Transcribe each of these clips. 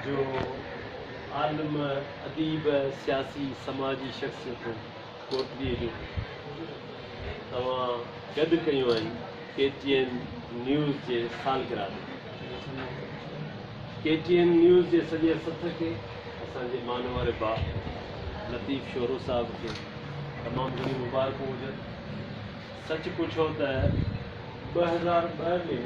جو عالم، اديب، سياسي، سماجي شخصيت هو. ڪوٽڙي جون توهان گڏ ڪيون آهن ڪي ٽي اين نيوز جي سالگرهه تي. ڪي ٽي اين نيوز جي سڄي سٿ کي، اسان جي مان واري ڀاء لطيف شورو صاحب کي تمام گهڻيون مبارڪون هجن. سچ پڇو ته ٻه هزار ٻه ۾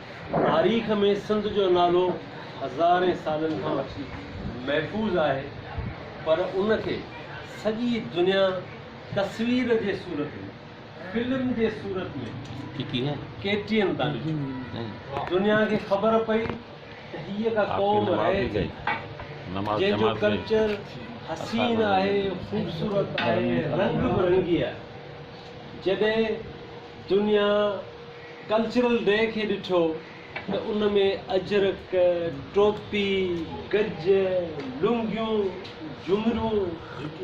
تاريخ ۾ سنڌ جو نالو هزارين سالن کان وٺي محفوظ آهي پر ان کي سڄي دنيا تصوير جي صورت ۾، فلم جي صورت ۾، ڪي ٽي اين تان ڏٺو. دنيا کي خبر پئي ته هيء ڪا قوم رهي ٿي، جنهن جو ڪلچر حسين آهي، خوبصورت آهي، رنگ برنگي آهي. جڏهن دنيا ڪلچرل ڊي کي ڏٺو ته ان ۾ اجرڪ، ٽوپي، گج، لنگيون، جهمريون،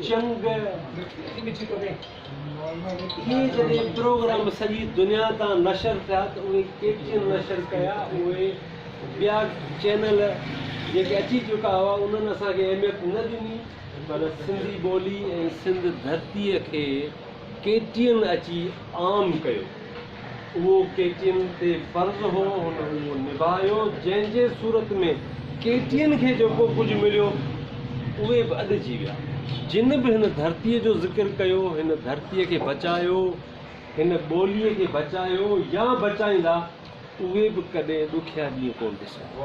چنگ اهي جڏهن پروگرام سڄي دنيا تان نشر ٿيا ته اهي ڪي ٽي اين نشر ڪيا اهي ٻيا چينل جيڪي اچي چڪا هئا انهن اسان کي اهميت نه ڏني پر سنڌي ٻولي ۽ سنڌ ڌرتي کي ڪي ٽي اين اچي عام ڪيو. اهو ڪي ٽي اين تي فرض هو، هن اهو نڀايو، جنهن جي صورت ۾ ڪي ٽي اين کي جيڪو ڪجهه مليو، اهي به اڏجي ويا. جن به هن ڌرتيء جو ذڪر ڪيو، هن ڌرتيء کي بچايو، هن ٻوليء کي بچايو يا بچائيندا، اهي به ڪڏهن ڏکيا ڏينهن ڪونه ڏسندا.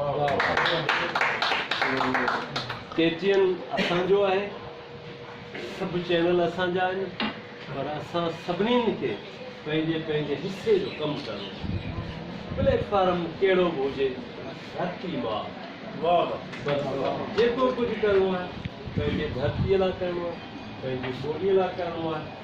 ڪي ٽي اين اسان جو آهي. سڀ چينل اسان جا آهن پر اسان سڀني کي پنهنجي پنهنجي حصي جو ڪم ڪرڻو پوندو پليٽ فارم ڪهڙو به هجي ڌرتي ماء بس جيڪو ڪجهه ڪرڻو آهي پنهنجي ڌرتي لاء ڪرڻو آهي پنهنجي ٻولي لاء ڪرڻو آهي.